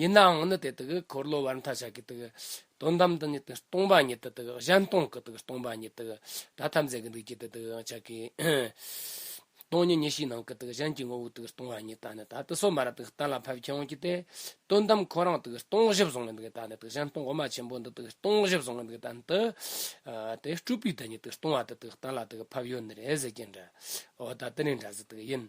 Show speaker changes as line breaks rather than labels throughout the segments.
ཡིན་ནའང་ནི་དེ་དག་འཁོར་ལོ་བར་མཐའ་ཆགས་ཀྱི་དག་དོན་དམ་དུ་ནི་སྟོང་པ་ཉིད་དུ་དག་གཞན་སྟོང་གི་དག་སྟོང་པ་ཉིད་དུ་ད་ཐམས་ཅད་ཀྱི་འདུས་བྱས་དེ་དག་ཡང་ཆགས་ཀྱི། སྟོང་ཉིད་ཉིད་ཕྱིའི་ནང་གི་དག་གཞན་གྱི་ངོ་བོ་དག་སྟོང་བ་ཉིད་དང་ནི་ད་དུ་སོ་མར་དག་གཏན་ལ་ཕབ་ཁྱད་འོང་གྱི་དེ་དོན་དམ་ཁོ་རང་དག་སྟོང་བཞི་བཟུང་བའི་དག་ད་ནི་དག་གཞན་སྟོང་འོག་མ་ཆེན་པོ་འདི་དག་སྟོང་བཞི་བཟུང་བའི་དག་དང་དུ་དེ་སྤྲུལ་པའི་དག་ཉིད་དུ་སྟོང་བ་དེ་དག་གཏན་ལ་དག་ཕབ་ཡོད་ནི་རེད་ཟེར་གྱི་འདྲའོ། ད་དེ་ནི་འདྲ་ཟེར་དག་ཡིན།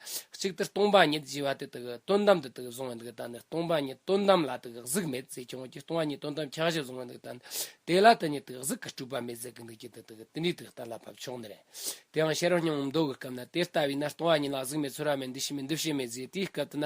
གཅིག་ཏུ་སྟོང་པ་ཉིད་ཅེས་པ་དེ་དག་དོན་དམ་དུ་དག་བཟུང་བ་འདུག་ད་ནི་སྟོང་པ་ཉིད་དོན་དམ་ལ་དག་གཟུགས་མེད་ཅེས་བྱུང་བ་ཀྱི་སྟོང་པ་ཉིད་དོན་དམ་ཁྱད་གཞི་བཟུང་བ་འདུག་ད་ནི་དེ་ལ་དེ་ཉིད་དག་གཟུགས་ཀྱི་སྤྲུལ་པ་མེད་ཟེར་གྱི་འདུག་ཅི་སྟེ་དེ་དག་དེ་འདྲའི་དུས་ལྟར་ལ་བབ་ཆོག་ནི་རེད། དེའང་ཤེས་རབ་སྙིང་པོ་མདོ་གི་སྐབས་ན་དེ་ལྟ་བས་ན་སྟོང་པ་ཉིད་ལ་གཟུགས་མེད་ཚོར་བ་མེད་འདུ་ཤེས་མེད་འདུ་ཤེས་མེད་ཟེར་དེའི་སྐབས་དུ་ན།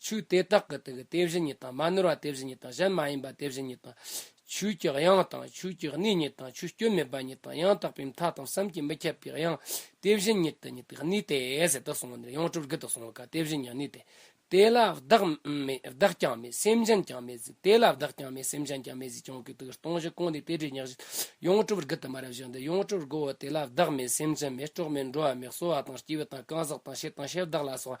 ཆོས་དེ་དག་གི་དུག་དེ་བཞིན་ཉིད་དང་མ་ནོར་བ་དེ་བཞིན་ཉིད་དང་གཞན་མ་ཡིན་པ་དེ་བཞིན་ཉིད་དང། ཆོས་ཀྱི་དབྱིངས་དང་ཆོས་ཀྱི་གནས་ཉིད་དང་ཆོས་སྐྱོན་མེད་པ་ཉིད་དང་ཡང་དག་པའི་མཐའ་དང་བསམ་གྱིས་མི་ཁྱབ་པའི་དབྱིངས་དེ་བཞིན་ཉིད་དུ་ཉིད་དུ་གནས་ཏེ་ཟད་དུ་སོང་བ་ནི་ཡང་སྤྲུལ་སྐུ་དུ་སོང་བ་ཀ་དེ་བཞིན་ཉིད་གནས་ཏེ། དེ་ལ་བདག་མེད་བདག་ཀྱང་མེད་སེམས་ཅན་ཀྱང་མེད་གཟིགས་དེ་ལ་བདག་ཀྱང་མེད་སེམས་ཅན་ཀྱང་མེད་གཟིགས་ཀྱང་གུད་དུག་སྟོང་བཞི་གང་དེའི་དེ་སྒྲས་ཉག་བཞི་ཡང་སྤྲུལ་སྐུ་དུ་མ་རབ་བཞག་འདི་ཡང་སྤྲུལ་སྐུའོ་དེ་ལ་བདག་མེད་སེམས་ཅན་མེད་གྲོགས་མེད་འགྲོ་བ་མེད་གསོ་བ་དང་སྐྱེ་བོ་དང་གང་ཟག་དང་ཤེས་དང་ཤེས་བདག་ལ་སོགས་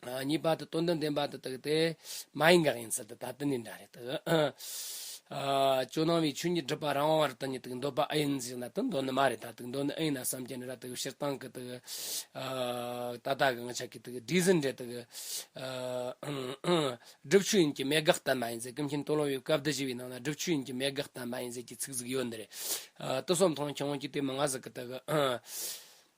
གཉིས་པ་དང་དོན་དང་ལྡན་པ་དང་དག་སྟེ། མ་ཡིན་འགག་ཡིན་ཚུལ་དུ་ད་ལྟ་ནི་འདྲ་རེད་དོ། ཅོ་ནང་བའི་ཆོས་ཉིད་སྒྲུབ་པ་རང་དབང་བར་དོན་ཉིད་དུ་འདོད་པ་ཨེ་ཡིན་ཞེ་ན་དོན་འདོད་ནི་མ་རེད་ད་དུ་འདོད་ནི་ཨེ་ཡིན་ན་བསམ་གྱི་ནི་ར་དུ་སྤྱིར་བཏང་གི་དུ། ད་ལྟ་གི་ང་ཅག་གི་དུ་སྒྲིག་ཟིན་འདྲེ་དུ། སྒྲུབ་ཆོས་ཡིན་གྱི་མེད་དགག་ལྟ་མ་ཡིན་ཟེར་ཀུན་མཁྱེན་སྟོན་ལོང་བའི་བཀའ་བསྡུ་བཞི་བའི་ནང་ན་སྒྲུབ་ཆོས་ཡིན་གྱི་མེད་དགག་ལྟ་མ་ཡིན་ཟེར་གྱི་ཚིག་ཟིག་ཡོད་འདི་རེད། ཏུ་སོམས་མཐོང་ཁྱེད་རང་གྱིས་དེ་མ་ང་ཟིག་གི་དུ།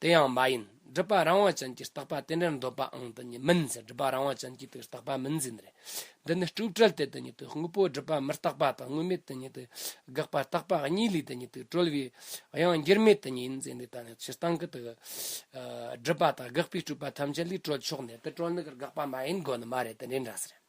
དེ་ཡང་མ་ཡིན། སྒྲུབ་པ་རང་དབང་ཅན་གྱིས་རྟག་པ་དེ་འདྲར་འདོད་པའང་དེ་ཉིད་མིན་ཟེར་སྒྲུབ་པ་རང་དབང་ཅན་གྱིས་དེར་རྟག་པ་མིན་ཟེར་ནི་རེད། འདི་ནི་སྤྲོས་བྲལ་ཏེ་དེ་ཉིད་དུ་དངོས་པོ་སྒྲུབ་པ་མི་རྟག་པ་དང་དངོས་མེད་དེ་ཉིད་དུ་དགག་པ་རྟག་པ་གཉིས་ལས་དེ་ཉིད་དུ་གྲོལ་བའི་དབྱིངས་འགྱུར་མེད་དེ་ཉིད་ཡིན་ཟེར་ནི་ད་ནི་སྤྱིར་བཏང་གི་དེ་སྒྲུབ་པ་དང་དགག་པའི་སྤྲོས་པ་ཐམས་ཅད་ལས་གྲོལ་ཆོག་ནས་དེ་གྲོལ་ནི་དགག་པ་མ་ཡིན་དགོས་ནི་མ་རེད་དེ་འདྲའི་འདྲ་ཟེར།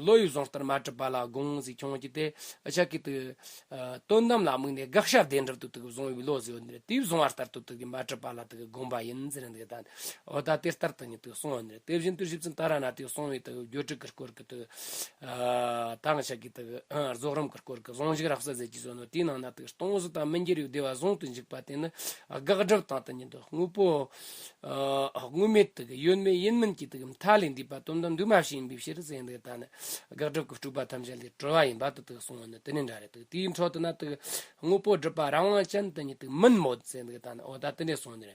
བློ་ཡུལ་བཟང་ལྟར་མ་གྲུབ་པ་ལ་དགོངས་གཟིགས་ཁྱོད་ཀྱིས་དེ་ཕྱག་གི་དོན་དམ་ལ་དམིགས་ནས་དགག་བྱ་བདེན་གྲུབ་ཏུ་དུག་བཟུང་བའི་བློ་གཟིགས་པ་ནི་དུས་བཟུང་བ་ལྟར་དུ་དུག་གིས་མ་གྲུབ་པ་ལ་དུག་གི་དགོངས་པ་ཡིན་ཟེར་འདི་དང་འོ་ད་དེ་ལྟར་དུ་ནི་དུག་བསྲུང་བ་ནི་དེ་བཞིན་དུ་ཞིབ་ཅིང་དར་བ་ན་དུག་བསྲུང་བའི་དུག་སྦྱོར་དྲུག་གི་སྐོར་གྱི་དུག་དང་ཕྱག་གི་དུག་རྫོགས་རིམ་གྱི་སྐོར་གྱི་བཟང་ཤིང་རགས་བསལ་ཟས་ཀྱིས་བཟོས་ནོ་དེའི་ནང་ན་དུག་སྟོང་གཟུགས་དང་མི་འགྱུར་བའི་བདེ་བ་བཟུང་དུ་འཇུག་པ་དེ་ནི་དགག་སྒྲུབ་དང་དུ་ཉིད་དོ་དངོས་པོ། དངོས་མེད་དུ་ཡོད་མེད་ཡིན་མིན་གྱི་མཐའ་ལས་འདས་པ་དོན་དམ་འདུས་མ་བྱས་ཡིན་པའི་ཕྱིར་ཟེར་འདི་ལྟ་ན་དགག་སྒྲུབ་ཀྱི་སྤྲོས་པ་ཐམས་ཅད་ལས་གྲོལ་བ་ཡིན་པ་དུ་ཐུག་གསུང་བ་ནི་དེ་ནི་འདྲ་རེད་དེའི་འཕྲོ་དུ་ན་དངོས་པོ་སྒྲུབ་པ་རང་དབང་ཅན་དུ་ནི་མིན་མོད་ཟེར་འདི་ལྟ་ན་འོ་ད་དེ་འདྲའི་གསུང་ནི་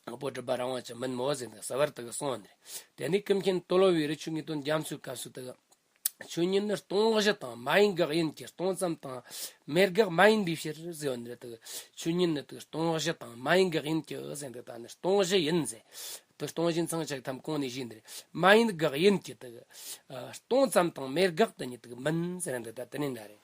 དངོས་པོ་སྒྲུབ་པ་རང་དབང་ཅན་མིན་མོད་ཟེར་འདི་ཟེར་བར་དུ་གསུང་བ་ནི་རེད་དེ་ནི་ཀུན་མཁྱེན་ཏོ་ལོ་བའི་རི་ཆུ་ངེས་དོན་རྒྱ་མཚོའི་སྐབས་སུ་དུ། ཆོས་ཉིད་ནི་སྟོང་གཞི་དང་མ་ཡིན་དགག་ཡིན་གྱི་སྟོང་ཙམ་དང། མེད་དགག་མ་ཡིན་པའི་ཕྱིར་ཟེར་བ་ནི། ཆོས་ཉིད་ནི་སྟོང་གཞི་དང་མ་ཡིན་དགག་ཡིན་གྱི་ཟེར་འདི་དག་ནི་སྟོང་གཞི་ཡིན། སྟོང་གཞི་མཚང་ཆགས་ཁམས་གོང་ནས་བཞིན་ནི། མ་ཡིན་དགག་ཡིན་གྱི། སྟོང་ཙམ་དང་མེད་དགག་དེ་ཉིད་མིན་ཟེར་འདི་དག་དེ་ནི་འདྲ་རེ།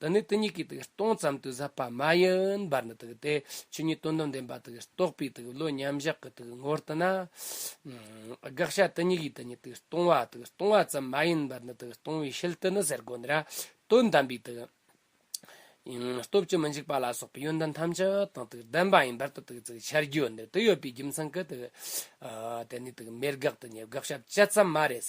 དེ་ནི་དེ་གཉིས་ཀྱི་སྟོང་ཙམ་དུ་ཟབ་པ་མ་ཡིན་པར་ནི་དེ་ཆོས་ཉིད་དོན་དམ་བདེན་པ་རྟོགས་པའི་བློ་མཉམ་གཞག་གི་ངོར་དུ་ན། དགག་བྱ་དེ་གཉིས་ཀྱི་དེ་ཉིད་སྟོང་བ་སྟོང་བ་ཙམ་མ་ཡིན་པར་ནི་སྟོང་བའི་ཕྱིར་དུ་ནི་ཟེར་དགོས་ན། དོན་དམ་པའི་སྟོབས་ཀྱིས་མི་འཇིགས་པ་ལ་སོགས་པའི་ཡོན་ཏན་ཐམས་ཅད་དང་ལྡན་པ་ཡིན་པར་དུ་འཆད་རྒྱུ་ནི་དེ་ཡོད་པའི་རྒྱུ་མཚན་གྱིས་དེ་ནི་མེད་དགག་དེ་ཉིད་དགག་བྱ་བཅད་ཙམ་མ་རེད།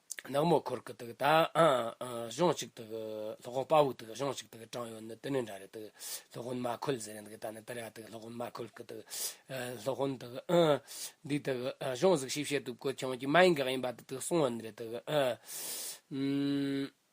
ནག་མོ་འཁོར་གི་དག་ད་གཞུང་གཅིག་དག་ལྷོ་གོང་དཔའ་བོ་དག་གཞུང་གཅིག་དག་དྲང་ཡོད་ནི་དེ་ནས་འདྲ་རེད་དག་ལྷོ་གོན་མ་འཁོལ་ཟེར་ཡང་དག་ད་ནི་དེ་ར་དག་ལྷོ་གོན་མ་འཁོལ་གི་དག་ལྷོ་གོན་དག་འདུག་དག་གཞུང་གཟིགས་ཞིབ་བྱེད་དུ་བཀོད་ཆོང་གི་མ་ཡིན་གག་ཡིན་པ་དག་གསུང་བ་ནི་རེད་དག།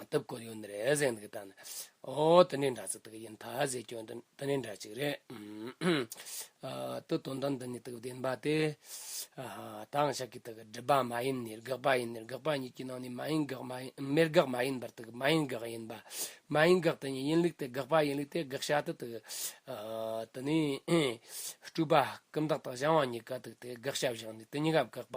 བཏབ་དགོས་ཡོད་ནི་རེད་ཟེར་གི་ད་ནི། ཨོ་དེ་ནི་འདྲ་ཚིག་དག་ཡིན་ད་ཟེར་སྐྱོན་དུ་དེ་ནི་འདྲ་ཅིག་རེད། དུ་དོན་དག་འདི་ནི་དག་བདེན་པ་སྟེ། དང་ཤ་ཀི་དག་སྒྲིབ་པ་མ་ཡིན་ནི་དགག་པ་ཡིན་ནི་དགག་པ་ཉིད་ཀྱི་ནང་ནས་མ་ཡིན་དགག་མ་ཡིན་མེད་དགག་མ་ཡིན་པར་དག་མ་ཡིན་དགག་ཡིན་པ། མ་ཡིན་དགག་དེ་ཉིད་ཡིན་ལུགས་དེ་དགག་པ་ཡིན་ལུགས་དེ་དགག་བྱ་དེ་དག། དེ་ནི། སྤྲུལ་པ་ཀུན་བདག་དག་གཞན་དབང་གཉིས་ཀ་དག་དེ་དགག་བྱ་བཞག་ནས་དེ་གཉིས་ཀ་དགག་པ།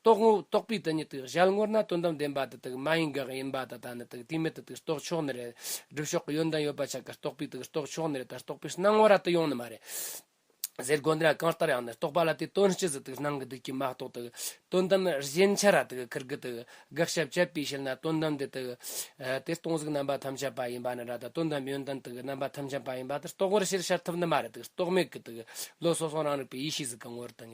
རྟོགས་ངོ་བོ་རྟོགས་པའི་དོན་ཉིད་དུ་གཞལ་ངོར་ན་དོན་དམ་བདེན་པ་དེ་དག་མ་ཡིན་འགགས་ཡིན་པ་ད་ལྟ་ནི་དེ་དེའི་མེད་དུ་དེ་རྟོགས་ཕྱོགས་ནི་རེད། སྒྲུབ་ཕྱོགས་ཀྱི་ཡོན་ཏན་ཡོད་པ་ཆ་ག་རྟོགས་པའི་དེ་རྟོགས་ཕྱོགས་ནི་རེད་ད་རྟོགས་པའི་སྣང་བ་ར་ཏི་ཡོང་ནི་མ་རེད། ཟེར་དགོས་འདི་ན་གང་ལྟར་ཡང་ནི་རྟོགས་པ་ལ་དེའི་དོན་སྤྱི་ཟིན་དུ་སྣང་གི་དུས་ཀྱི་མ་རྟོགས་དེ་དོན་དམ་གཞན་ཆ་ར་དེ་ཁུར་གི་དེ་དགག་བྱ་བཅད་པས་བྱེད་ན་དོན་དམ་དེ་དེ་དེ་སྟོང་གཟུགས་རྣམ་པ་ཐམས་ཅད་པ་ཡིན་པ་ནི་ར་ད་དོན་དམ་ཡོན་ཏན་དེ་རྣམ་པ་ཐམས་ཅད་པ་ཡིན་པ་དེ་རྟོགས་པར་ཕྱིར་ཤར་ཐུབ་ནི་མ་རེད་དེ་རྟོགས་མེད་ཀྱི་དེ་བློ་སོ་སོ་རང་རིག་པའི་ཡེ་ཤེས་གཟུགས་ཀྱི་ངོ་བོར་དེ།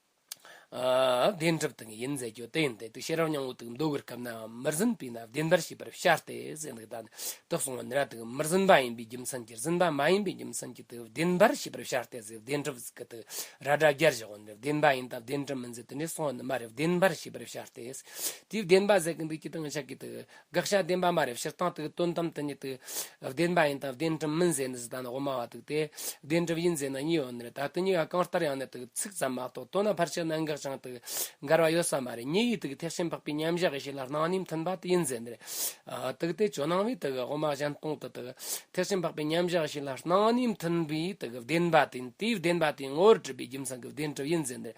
བདེན་གྲུབ་དང་ཡིན་མཛད་རྒྱུ་དེ་ཡིན་ཏེ་དུས་ཤེས་རབ་མྱང་བོ་དང་མདོ་དབུས་སྐབས་ན་མི་ཟིན་པས་ན་བདེན་པར་བྱས་པར་ཤར་ཏེ་གསལ་འདུག་ད་ནི་དུག་གསུམ་ག་ནི་ར་དང་མི་ཟིན་པ་ཡིན་པའི་རྒྱུ་མཚན་གྱིས་ཟིན་པ་མ་ཡིན་པའི་རྒྱུ་མཚན་གྱིས་དེ་བདེན་པར་བྱས་པར་ཤར་ཏེ་གསལ་བདེན་གྲུབ་ཀྱི་དུས་ར་སྒྲ་བརྒྱར་བཞག་བ་ནི་བདེན་པ་ཡིན་ད་བདེན་གྲུབ་མིན་མཛད་དེ་ནས་བཟུང་བ་ནི་མ་རིག་བདེན་པར་བྱས་པར་ཤར་ཏེ་དེའི་བདེན་པ་ཟད་ཀྱི་འདུས་ཀྱི་དང་བྱ་ཀྱི་དུས་དགག་བྱ་བདེན་པ་མ་རེད་སྤྱིར་བཏང་དུ་དོན་དམ་དུ་ཉིད་དུ་བདེན་པ་ཡིན་དང་བདེན་གྲུབ་མིན་ཟེར་ནི་བཟི་དང་དབུ་མ་བ་དུག་སྟེ། བདེན་གྲུབ་ཡིན་ཟེར་ན་གཉིས་ཡོད་ནི་རེད་ད་དུ་གཉིས་ཀ་གང་ལྟར་ཡང་ནི་དུག་ཚིག་ཙམ་མ་གཏོགས་དོན་ལ་ཕར་ཆེར་གནད་འགག་ཅིང་དུ་འགལ་བ་ཡོད་ས་མ་རེད་གཉིས་ཀའི་དུག་ཐེག་ཆེན་འཕགས་པའི་མཉམ་གཞག་ཡེ་ཤེས་ལ་སྣང་སྙིང་མཐུན་པ་དེ་ཡིན་ཟེར་ནི་རེད། དུག་དེ་ཇོ་ནང་བའི་དུག་དབུ་མ་གཞན་སྟོང་དུ་དུག་ཐེག་ཆེན་འཕགས་པའི་མཉམ་གཞག་ཡེ་ཤེས་ལ་སྣང་སྙིང་མཐུན་པའི་དུག་བདེན་པ་དེ་ཡིན་དེའི་བདེན་པ་དེའི་ངོ་བོར་གྲུབ་པའི་རྒྱུ་མཚན་གྱི་བདེན་གྲུབ་ཡིན་ཟེར་ནི་རེད་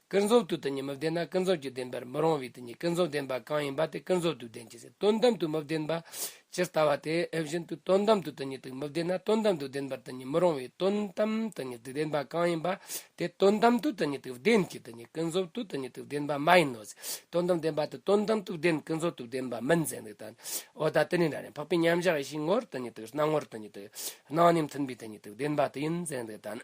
ཀུན་རྫོབ་ཏུ་དེ་གཉིས་མི་ལྡན་ན་ཀུན་རྫོབ་ཀྱི་བདེན་པར་མི་རུང་བས་དེ་གཉིས་ཀུན་རྫོབ་བདེན་པ་གང་ཡིན་པ་དེ་ཀུན་རྫོབ་ཏུ་བདེན་གྱི་ཟེར་དོན་དམ་དུ་མི་བདེན་པ། ཇི་ལྟ་བ་དེ་བཞིན་དུ་དོན་དམ་དུ་དེ་གཉིས་དུག་མི་བདེན་ན་དོན་དམ་དུ་བདེན་པར་དེ་གཉིས་མི་རུང་བས་དོན་དམ་དེ་གཉིས་དུག་བདེན་པ་གང་ཡིན་པ་དེ་དོན་དམ་དུ་དེ་གཉིས་དུག་བདེན་གྱི་དེ་གཉིས་ཀུན་རྫོབ་ཏུ་དེ་གཉིས་དུག་བདེན་པ་མ་ཡིན་ནོ་ཟེར་དོན་དམ་བདེན་པ་དེ་དོན་དམ་དུག་བདེན་ཀུན་རྫོབ་ཏུ་བདེན་པ་མིན་ཟེར་འདུག་ད་འོ་ད་དེ་ནི་འདྲ་ནས་འཕགས་པའི་མཉམ་གཞག་ཡེ་ཤེས་ངོར་དེ་གཉིས་དུག་སྣང་ངོར་དེ་གཉིས་དུག་སྣང་ཉིད་མཐུན་པའི་དེ་གཉིས་དུག་བདེན་པ་དེ་ཡིན་ཟེར་འདུག་ད།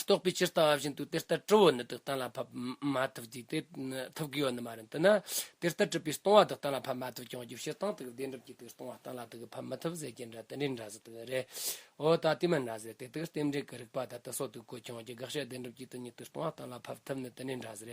རྟོགས་པའི་སྤྱིར་བཏང་བཞིན་དུ་དེ་ལྟར་དཀྲི་བོ་ནི་བདག་གཏན་ལ་ཕབ་མ་ཐུབ་ཀྱི། དེ་ཐུབ་དགོས་བ་ནི་མ་རེད། འདི་ན་དེ་ལྟར་དཀྲི་བའི་སྟོང་བ་བདག་གཏན་ལ་ཕབ་མ་ཐུབ་ཀྱང་རྒྱུ་ཕྱིར་བཏང་དེ་བདེན་གྲུབ་ཀྱི་དེ་སྟོང་བ་གཏན་ལ་དེ་ཕབ་མི་ཐུབ་ཟེར་གྱི་འདྲ་དེ་འདྲའི་འདྲ་ཟེར་དེ་རེད། འོ་ད་དེ་མིན་འདྲ་ཟེར་དེ་དེ་རྟེན་འབྲེལ་གྱི་རིགས་པ་དང་དུ་སོགས་དུ་གོ་ཀྱང་རྒྱུ་དགག་བྱ་བདེན་གྲུབ་ཀྱི་དེ་ཉིད་དེ་སྟོང་བ་གཏན་ལ་ཕབ་ཐུབ་ནི་དེ་འདྲའི་འདྲ་ཟེར།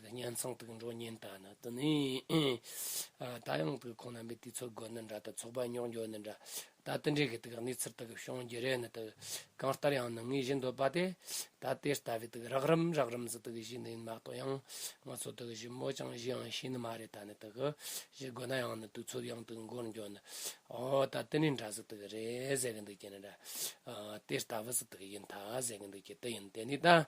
གཉེན་ཚང་དུག་འགྲོ་གཉེན་དག་ནི་དུ་ནི། ད་ཡང་དུག་ཁོང་རྣམ་པའི་དུས་ཚོད་དགོས་ནི་འདྲ་དུ་ཚོགས་པ་རྙོག་འགྱོ་ནི་འདྲ། ད་དུ་འདྲེ་གི་དུག་གནས་ཚུལ་དག་གི་ཤོང་རྒྱུ་རེད་ནི་དུ། གང་ལྟར་ཡང་ནི་ངའི་བཞིན་འདོད་པ་དེ། ད་དེ་ལྟ་བུའི་དུག་རགས་རིམ་རགས་རིམ་ཟིག་དུག་གི་བཞི་འདི་ཡིན་མ་གཏོགས་ཡང། ང་ཚོ་དུག་བཞི་མོ་ཅང་བཞི་ཡང་ཤེས་ནི་མ་རེད་ད་ནི་དུག་གི་བཞི་དགོས་ན་ཡང་ནི་དུས་ཚོད་ཡང་དུག་འགོར་འགྱོ་ནི། འོ་ད་དེ་ནི་འདྲ་ཟིག་དུག་གི་རེད་ཟེར་གི་འདུག་ཀྱི་ནི་འདྲ། དེ་ལྟ་བུ་ཟིག་དུག་གི་ཡིན་ད་ཟེར་གི་འདུག་ཀྱི་དུག་ཡིན་དེ་ནི་ད།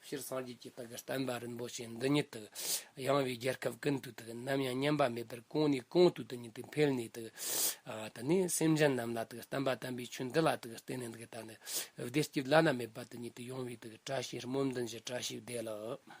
སྤྱིར་སངས་རྒྱས་ཀྱི་བདག་བསྟན་པ་རིན་པོ་ཆེ་འདི་ཉིད་དུ་ཡངས་བའི་རྒྱལ་ཁབ་ཀུན་ཏུ་དུ་ནམ་ཡང་ཉམས་པ་མེད་པར་གོང་ནས་གོང་དུ་དུ་ཉིད་དུ་འཕེལ་ནས་དུ་དུ་ནས་སེམས་ཅན་རྣམས་ལ་དུ་བསྟན་པ་དམ་པའི་ཆོས་འདི་ལ་དུ་བརྟེན་ནས་དུ་ད་ནི་བདེ་སྐྱིད་བླ་ན་མེད་པ་དུ་ཉིད་དུ་ཡོང་བའི་དུ་བཀྲ་ཤིས་རྨོ་འདུན་གྱི་བཀྲ་ཤིས་བདེ་ལགས།